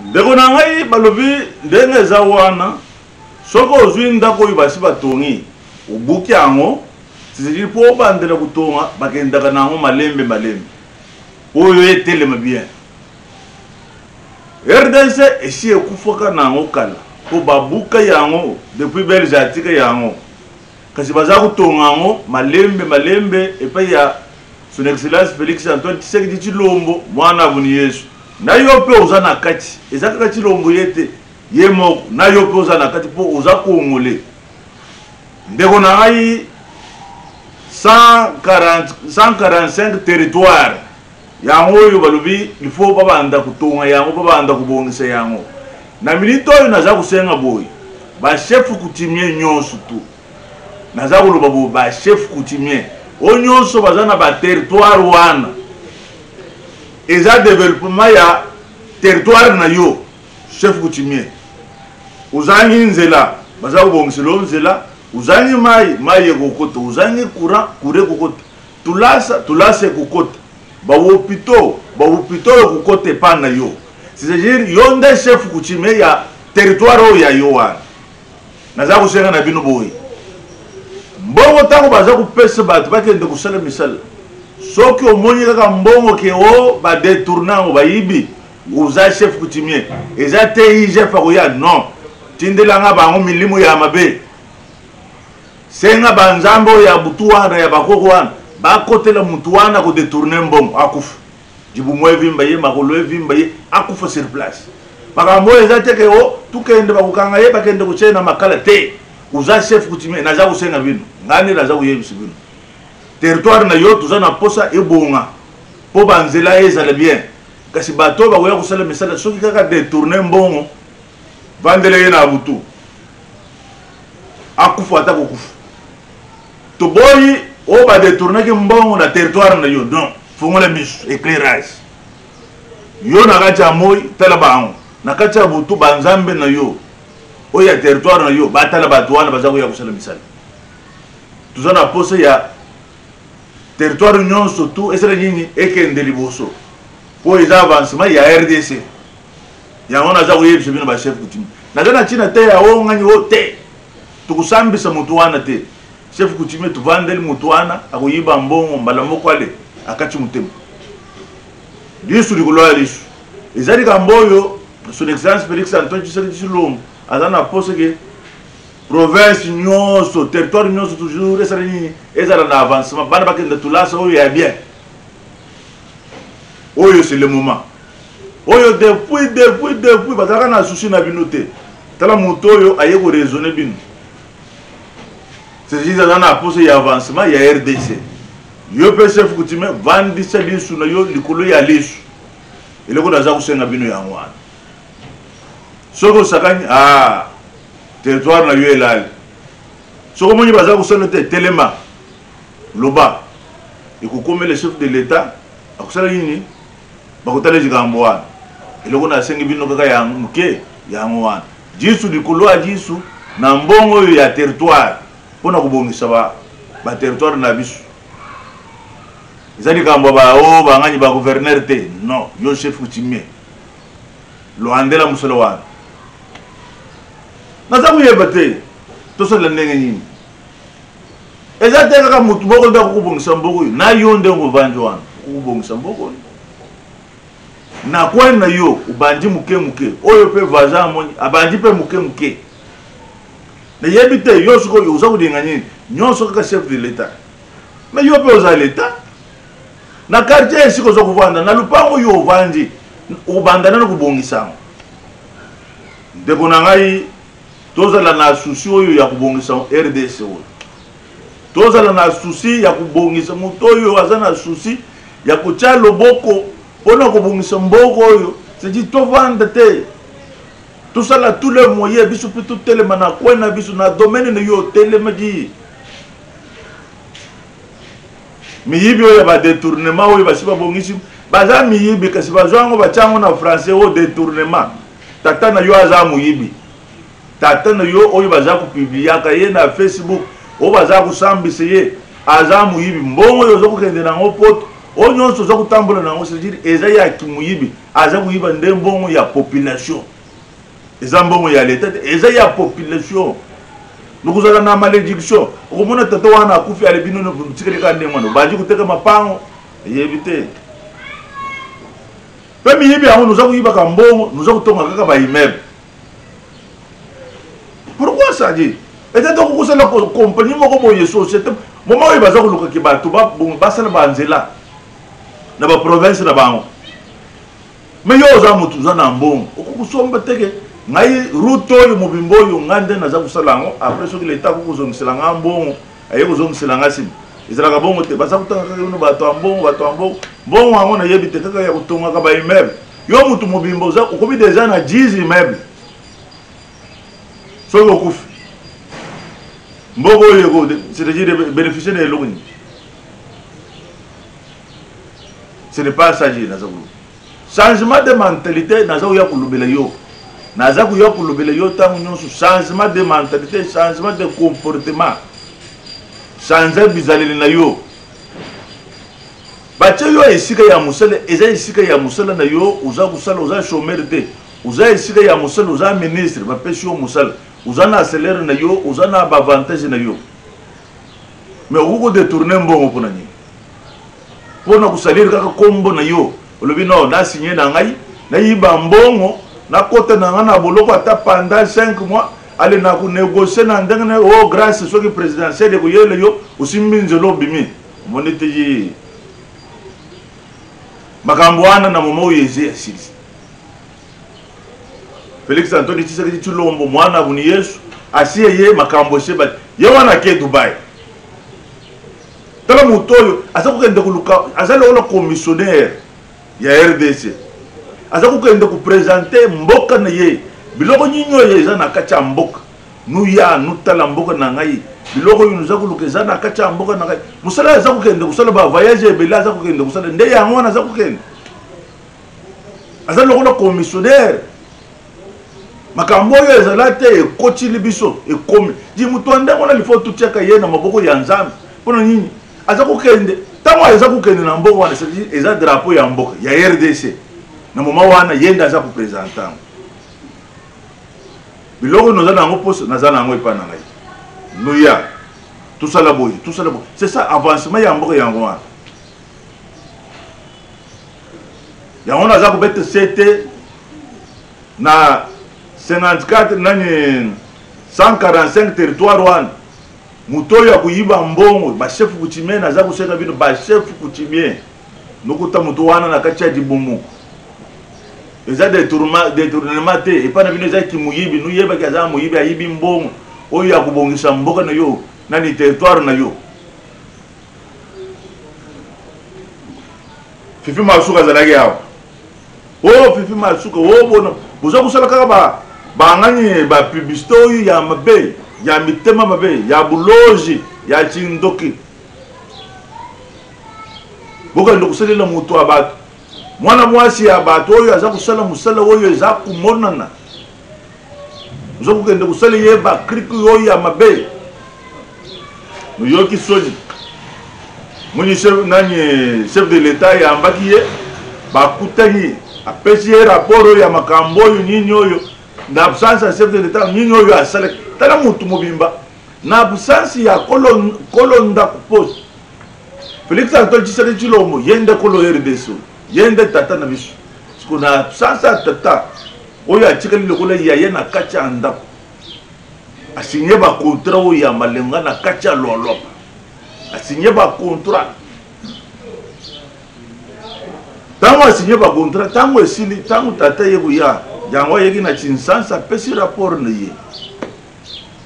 ndeko na ngai balobi ndenge eza wana soki ozwi ndako oyo basi batongi obuki yango tizili mpo obandela kotonga bakendaka na yango malembe malembe oyo etelema bien rdc esi ekufaka na yango kala mpo babuka yango depuis belge atika yango Kasi baza kotonga yango malembe malembe epai ya son excellence Felix Antoine Tshisekedi Tshilombo mwana boni Yesu. Na yo mpe oza na kati, eza kaka Tshilombo ye te, ye moko na yo mpe oza na kati mpo oza Kongole. Ndeko na ngai 145 territoire Yango oyo balobi il faut babanda kotonga yango mpo babanda kobongisa yango. Na minute oyo naza kosenga boye ba chefs coutumiers nyonso tout naza koloba boye ba chefs coutumiers oyo nyonso baza na ba territoire wana eza developpement ya territoire na yo chef coutumier ozangi nzela baza kobongisela yo nzela ozangi mai mai ekokota ozangi courant courant ekokota Tulasa tulasa ekokota ba wopito ba wopito ekokota epa na yo c'est-à-dire yo nde chef coutumier ya territoire oyo ya yo wana naza kosenga na bino boye mbongo ntango baza kopesa bato bakende kosala misala soki omoni kaka mbongo ke o badetourne yango bayibi oza chef coutumier eza te igf akoya non tindelanga bango milimo ya mabe Senga ba nzambe oyo ya butu wana ya ba koko wana ba kotela mutu wana ko detourner mbongo akufa. Libumu evimba ye, makolo evimba ye, akufa sur place. Makambo oyo eza te ke oh tu kende ba kokanga ye ba kende kotia ye na makala te. Oza chef coutumier naza kosenga bino ngai nde naza koyebisa bino territoire na yo toza na posa ebonga po ba nzela ezala bien kasi bato oyo bakoya kosala misala soki kaka detourner mbongo vandela ye na butu akufa ata kokufa toboyi oyo badetournaki mbongo na territoire na yo donc fongola misu éclairage yo na kati ya moi tala bango na kati ya butu banzambe na yo oyo ya territoire na yo batala bato wana baza koya kosala misala toza na posa ya territoire nyonso tu esala nini ekende liboso mpo eza avancement ya rdc yango naza koyebisa bino ba chef coutume naza na ntina te ya o ngani o te tokosambisa moto wana te chef coutume tovandeli moto wana akoyiba mbongo mbala moko ale akati motema lisu likolo ya lisu eza likambo oyo son excellence félix antoine tshisekedi tshilombo aza na mposa ke province nyonso territoire nyonso toujours esala nini ezala na avancement bana bakenda tulasa oyo ya bien oyo c'est le moment oyo depuis depuis depuis bazalaka na souci na bino te tala moto oyo aye koraisonne bino cest aza na posa ya avancement ya rdc yo mpe chef coutume vandisa lisu na yo likolo ya lisu eloko naza kosenga bino yango wana soki osakani a ah, territoire na yo elali soki omoni baza kosala te telema loba ekokomela chef de l'etat akosalaki nini bakotala likambo wana eloko nasengi bino kaka ya moke yango wana jisu likolo ya jisu na mbongo oyo ya territoire mpo na kobongisa baterritoire na biso eza likambo ya bao oh, bangani ba gouverneur te non yo chef coutumier loandela mosolo wana naza koyeba te tosalela ndenge nini eza te kaka motu moko nde akokobongisa mboka oyo na yo nde ovandi wana okokobongisa mboka oyo na kwani na yo obandi moke moke oyo mpe voisin amoni abandi mpe moke moke nayebi te yo soki oza kolinga nini nyonso kaka chef de l'etat mais yo mpe oza l'etat na quartier esika oza kovanda na lopango oyo ovandi obanda nano kobongisa yango ndeko na ngai Tozala na souci oyo ya kobongisa rdc oyo. Tozala na souci ya kobongisa moto oyo aza na souci ya kotia loboko pona kobongisa mboka oyo. C'est dit tovanda te. Tosala tous les moyens biso pe totelema na coin na biso na domaine na yo otelemaki. miyibi oyo ya badetournement oyo basi babongisi baza miyibi kasi bazwa yango batya yango na français oyo detournement tata na yo aza moyibi tata na yo oyo baza kopibliaka ye na facebook oyo baza kosambisa ye aza moyibi mbongo oyo oza kokende na yango poto oyo nyonso oza kotambola na yango cetadire eza ya kimoyibi aza koyiba nde mbongo ya population eza mbongo ya leta te eza ya population lokozala na malédiction okomona tata wana akufi ale bino tikali kaka ndenge wana obandi koteka mapango eyebi te mpe miyibi yango noza koyibaka mbongo noza kotonga kaka baimmeuble pourquoi ça dit ete to kokosala kompani moko boye société moma oyo baza kolukaki bato basala banzela na baprovince na bango Mais yo oza mutu oza na mbongo okoki kosomba te ke ngai route oyo mobimba oyo ngai nde naza kosala yango après soki leta akoki kozongisela ngai mbongo aye kozongisela ngai nsima ezalaka bongo te baza kotanga kaka bino bato ya mbongo bato ya mbongo mbongo yango nayebi te kaka ya kotongaka ba immeuble yo motu mobimba oza okomi deja na 10 immeuble soki okufi mboka oyo eko c'est-à-dire bénéficier na eloko nini ce n'est pas ça je naza koloba changement de mentalité naza koya kolobela yo naza koya kolobela yo ntango nyonso changement de mentalité changement de comportement change bizaleli na yo batye yo esika ya mosala eza esika ya mosala na yo oza kosala oza chomere te oza esika ya mosala oza ministre bapesi yo mosala oza na salaire na yo oza na baavantage na yo mais okoki kodetourne mbongo mpo na nini mpo na kosalire kaka nkombo na yo olobi no nasinye na ngai nayiba mbongo nakota na ngai na boloko ata panda 5 mois ale na konegocie na ndenge na o oh, grace soki présidentielle ekoyela yo osimbi nzela obimi omoni te ye makambo wana na moma oyo eze asilisi félix antoni tshisekedi tshilombo mwana boni yesu asi eye makambo ese ye wana ake dubai tala moto oyo aza kokende koluka aza lokola commissionnaire ya rdc aza kokende kopresente mboka na ye biloko nini oyo eza na kati ya mboka nuya nutala mboka na ngai biloko oyo noza koluka eza na kati ya mboka na ngai mosala aza kokende kosala bavoyage ebele aza kokende kosala nde yango wana aza kokende aza lokola commissionnaire makambo oyo ezala te ekotili biso ekomi di moto ya ndenge wana lifo totiaka ye na maboko ya nzambe mpo na nini aza kokende ntango aza kokende na mboka wana cetadi eza drapeau ya mboka ya rdc na moma wana ye nde aza kopresente yango biloko noza na yango mposa naza na yango epai na ngai noya tosala boye tosala boye c'est ça avancement ya mboka yango wana yango naza kobeta sete na 54 nani 145 territoire wana moto oyo akoyiba mbongo bachef coutumien naza koseka bino bachef coutumien nokuta moto wana na kati ya libumu eza detournement te epai na bino eza kimoyibi noyebaki aza moyibi ayibi mbongo oyo akobongisa mboka na yo nani territoire na yo fifi masuka azalaki awa o oh, fifi masuka o oh, bona boza kosala kaka ba bangani ba publicité oyo ya mabe ya mitema mabe ya bulozi ya kindoki bokende kosalela moto ya bato mwana mwasi ya bato oyo aza kosala mosala oyo eza komonana ozokokende kosala ye bakriki oyo ya mabe oyoki soni moni nani chef de l'etat ayambaki ye bakutani apesi ye rapport oyo ya makambo oyo nini oyo na absence ya chef de l'etat nini oyo asalaki tala motu mobimba na absence ya kolo ndako poste felix antoine tshisekedi tshilombo ye nde kolo rdc ye nde tata na biso siko na absence ya tata oyo atikali lokola yaya na kati ya ndako asigne bacontra oyo ya malenga na kati ya lwalwapa asigne bacontra ntango asigne bacontra ntango esili ntango tata ye koya yango ayeki na kinsansa apesi rapport na ye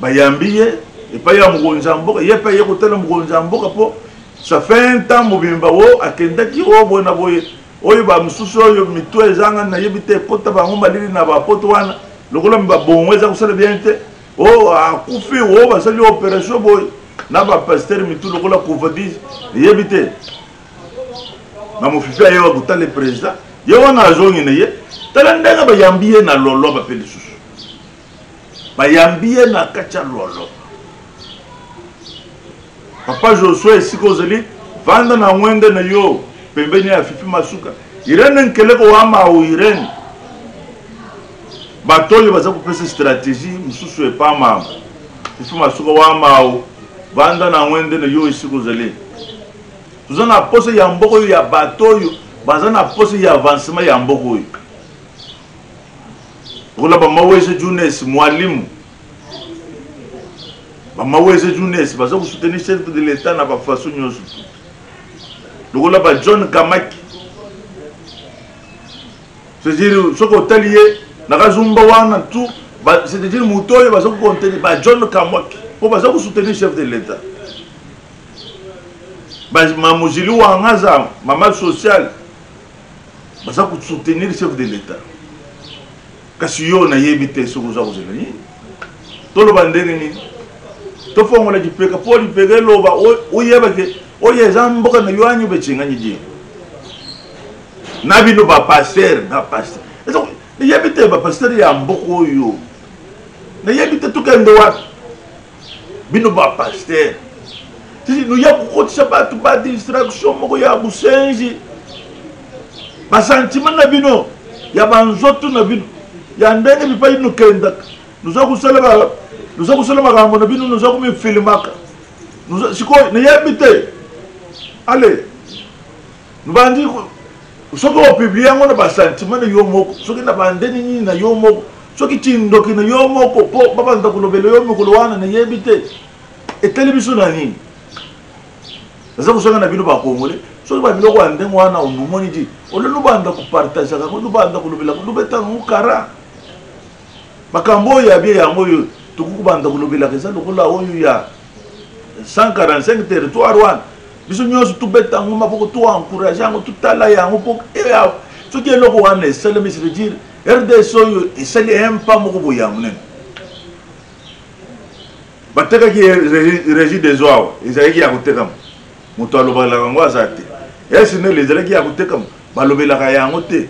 bayambi ye epai ya mokonzi ya mboka ye mpe aye kotala mokonzi ya mboka mpo ça fait un temps mobimba o akendaki o boye na boye oyo bamosusu oyo mito ezanga nayebi te ekota bango malili na bapoto wana lokola babongo eza kosala bien te o oh, akufi o oh, basali operation boye na bapastere mitu lokola covadis eyebi te na mofifi aye bakotala president ye wana azongi na ye tala ndenge bayambi ye na loloba mpe lisusu bayambi ye na kati ya lolo papa josue esika ozali vanda na ngwende na yo pembeni ya fifi masuka irene nkeleko wamau irene bato oyo baza kopesa stratégie mosusu epa mama fifi masuka wamau vanda na ngwende na yo esika ozali toza na posa ya mboka oyo ya bato oyo baza na posa ya avancement ya mboka oyo lokola bamaweze junes mwalimu bamaweze junes baza kosoutenir chef de l'etat na bafaso nyonso lokola ba john kamaki c'est-à-dire soki otali ye na kazumba wana tout c'est-à-dire moto oyo baza kokonteni ba john kamwaki mpo baza kosoutenir chef de l'état mamozili wanga aza mama sociale baza ko soutenir chef de l'etat kasi yo nayebi te soki oza kozela nini toloba ndenge nini tofongola lipeka mpo lipeka eloba oyeba ke oyo eza mboka na yo anyo becengani die na bino bapaster na paster nayebi te bapaster ya mboka oyo nayebi te tokende wapi bino ba pasteur noya kokotisa bato ba distraction moko ya bosenzi basantima na bino ya banzoto na bino ya ndenge bipai nokendaka noza kosala makambo na bino noza komifilimaka sikoyo nayebi te ale Bandi soki o publie yango na ba sentiment na yo moko, soki na ba ndeni nini na yo moko, soki kindoki na yo moko po ba banda kolobela yo mokolo wana na yebi te. Etali biso na nini? Naza kosenga na bino ba Congolais, soki ba biloko ya ndenge wana omoni di, ole lubanda ko partageaka ko lubanda kolobela ko lubeta ngo kara. Makambo oyo ya bie yango oyo tokoki kobanda kolobelaka eza lokola oyo ya 145 territoire wana biso nyonso tobeta yango maboko to encourage yango totala yango mpo eh, soki eloko wana esalemi se veut dire rds oyo esali empa moko boye ya monene batekaki régie des oa ezalaki ya kotekama moto alobalaka yango aza te esnel ezalaki ya kotekama balobelaka yango te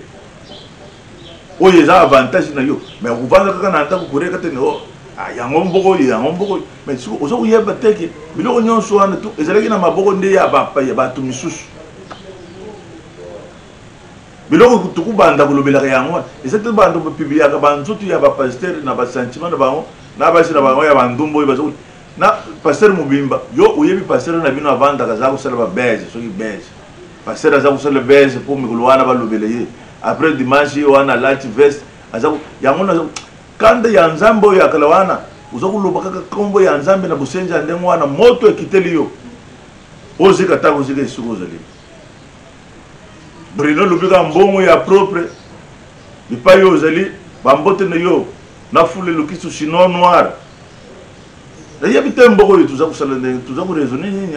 oyo eza avantage na yo me okofanda kaka na ndako koreka te oh, ah, yango mboko oyo yango mboko oyo me siko oza koyeba teke biloko nyonso wana tu ezalaki na maboko nde ya bato misusu biloko tokobanda kolobelaka yango wana eza te bando bapibliaka banzoto ya bapastere na basentiment na bango na basi na bango ya bandumba oyo baza na pasteur mobimba yo oyebi pasteur na bino avandaka aza kosala babese soki bese pasteur aza kosala bese mpo mikolo wana balobela ye après dimanche ye wana alati veste aza yango na kanda ya nzambe oyo ya kala wana oza koloba kaka nkombo ya nzambe na bosenzi ya ndenge wana moto ekiteli yo ozika ata kozika esika ozali brino olobi kaka mbongo ya propre bipai oyo ozali bambote na yo na fule lokisu sinon noir nayebi te mboko oyo toza kosala ndenge toza koraisonne nini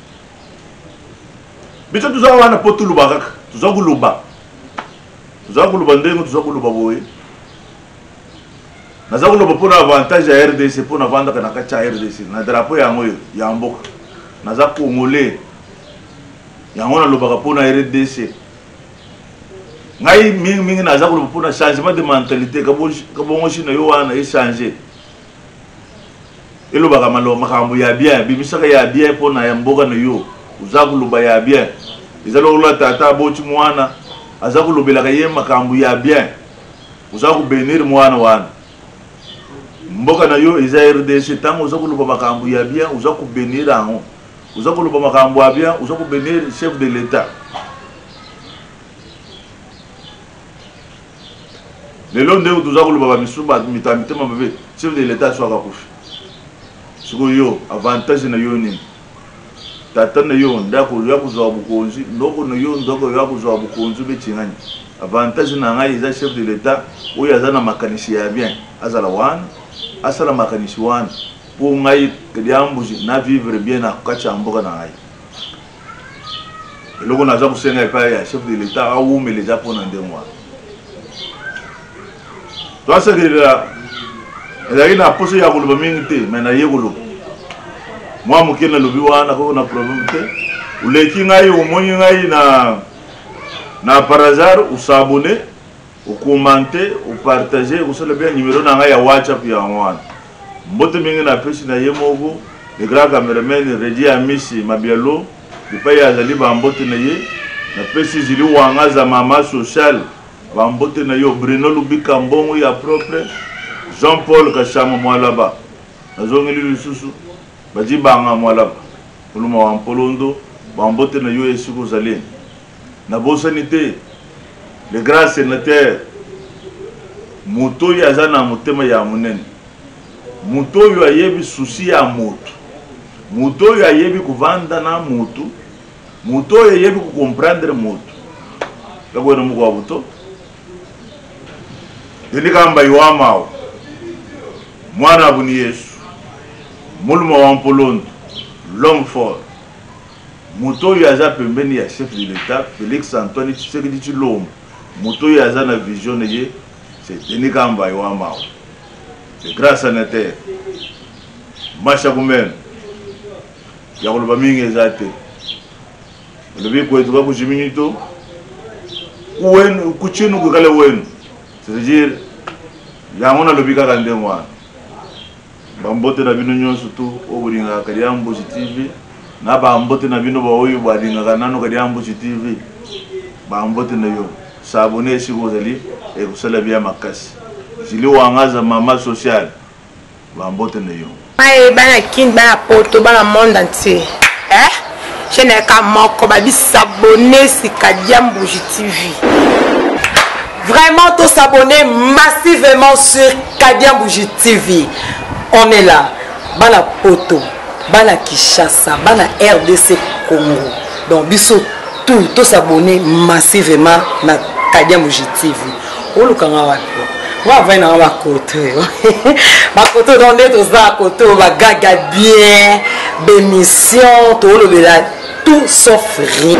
biso toza wana mpo toloba kaka toza koloba toza koloba ndenge toza koloba boye naza koloba mpo na avantage ya rdc mpo navandaka na kati ya rdc na drapo yango oyo ya mboka naza congolais yango nalobaka mpo na rdc ngai mingimingi naza koloba mpo na changement de mentalité kabongosi na yo wana echange elobaka maloba makambo ya bien bimisaka ya bien mpo na ya mboka na yo oza koloba ya bien eza lokola tata aboti mwana aza kolobelaka ye makambo ya bien oza kobenir mwana wana mboka na yo eza rdc ntango oza koloba makambo ya bien oza kobenir yango oza koloba makambo ya bien oza kobenir chef de l'etat lelo ndenge toza koloba ba misusu ba mita mitema mabe chef de l'etat aso akakufi siko yo avantage na yo nini tata na yo nde akoya kozwa bokonzi ndoko na yo nde akoya kozwa bokonzi obeti ngani avantage na ngai eza chef de l'etat oyo aza na makanisi ya bien azala wana asala makanisi wana mpo ngai liambuzi na vivre bien na kati ya mboka na ngai eloko naza kosenga epai ya chef de l'etat awumela eza mpo na ndenge wana toasakelela ezalaki na mposa ya koloba mingi te me naye koloba mwa moke nalobi wana nakoki na probleme te oleki ngai omoni ngai na na par hasard osabone okomante opartage okosala bia nimero na ngai ya whatsapp yango wana Mbote mingi na pesi na ye moko le grand cameraman Reddy Amisi Mabialo epayi azali ba mbote na ye na pesi Julie Wangaza mama social ba mbote na yo Bruno Lubika mbongo ya propre Jean Paul Kashama Mwalaba na zongeli lisusu Badji Banga Mwalaba Kuluma wa Mpolondo ba mbote na yo esika ozali Nabosani te le grand senateur moto oyo aza na motema ya monene, moto oyo ayebi susi ya moto, moto oyo ayebi kovanda na moto, moto oyo ayebi kocomprendre moto yakoyo na moko wa buto Denis Kamba Iwamao mwana abuni Yesu muluma wa Mpolondo l'homme fort Moto oyo aza pembeni ya chef de l'etat Felix Antoine Tshisekedi Tshilombo, moto oyo aza na vision na ye c'est Denis Kambayi wa mawa, le grand senateur. Masha Kumenu, ya koloba mingi eza te. Olobi kwetu ka kujiminyi to, kuwenu, kuchinu kukale wenu. C'est-à-dire, yango nalobi kaka ndenge wana. Ba mbote na bino nionso tout oyo bolingaka Kadiambushi TV na ba mbote na bino ba oyo ba lingaka nanu Kadiambushi TV ba mbote na yo s'abonner esika ozali ekosala bien makasi Julie Wangaza mama social ba mbote na yo. Maye bana kin bana poto bana monde entier eh. chaîne ya kamoko ba bisabone sika diambuji tv vraiment to s'abonner massivement sur Kadia Bougie TV on est là bana poto bana Kishasa bana RDC Congo donc biso tout to s'abonner massivement na Kadia Bougie TV oluka nga wapi nga avai nanga bakoto yo bakoto don nde toza koto bagaga bien bemission toolobela tout sauf rien